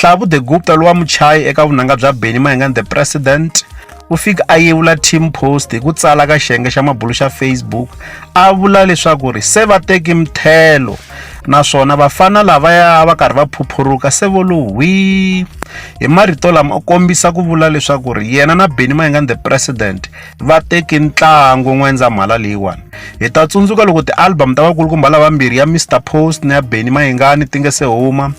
Hlavu de Gupta lowa muchayi eka vunanga bya Benny Mayengani The President u fike a yevula Team Post hi ku tsala ka xiyenge xa mabulu xa Facebook a vula leswaku ri se va teki mthelo naswona vafana lavaya va karhi va phuphuruka se vo lo hwi hi marito lama u kombisa ku vula leswaku ri yena na Benny Mayengani The President va teki ntlangu n'wendzamhala leyiwani hi ta tsundzuka loko ti-album ta vakulukumba lavambirhi ya Mister Post na ya Benny Mayengani ti nga se huma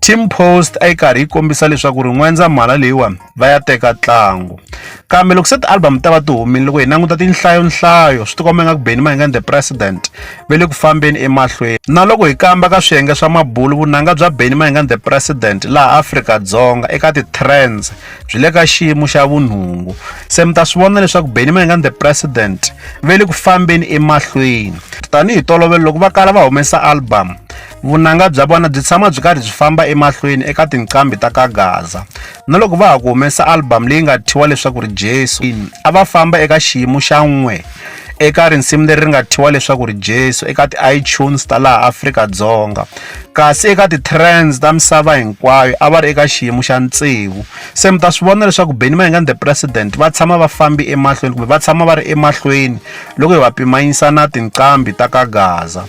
Team post a yi karhi yi kombisa leswaku ri n'wendzamhala leyiwani va ya teka ntlangu kambe loko se ti-album ta va ti humile loko hi languta tinhlayonhlayo swi tikomba nga ku beni mahingani the president ve le ku fambeni emahlweni na loko hi kamba ka swiyenge swa mabulu vunanga bya beni mahingani the president laha afrika-dzonga eka ti-trends byi le ka xiyimo xa vunhungu se mi ta swi vona leswaku beni mahingani the president ve le ku fambeni emahlweni tanihi tolovelo loko va kala va humesa album vunanga bya vona byi tshama byi karhi byi famba emahlweni eka tinqambi ta ka gaza na loko va ha ku humesa album leyi nga thyiwa leswaku ri jesu a va famba eka xiyimo xa n'we eka risimu leri ri nga thyiwa leswaku ri jesu eka ti-itunes ta laha afrika-dzonga kasi eka ti-trends ta misava hinkwayo a va ri eka xiyimo xa ntsevu se mi ta swi vona leswaku beni mayingani the president va tshama va fambi emahlweni kumbe va tshama va ri emahlweni loko hi va pimanyisa na tinqambi ta ka gaza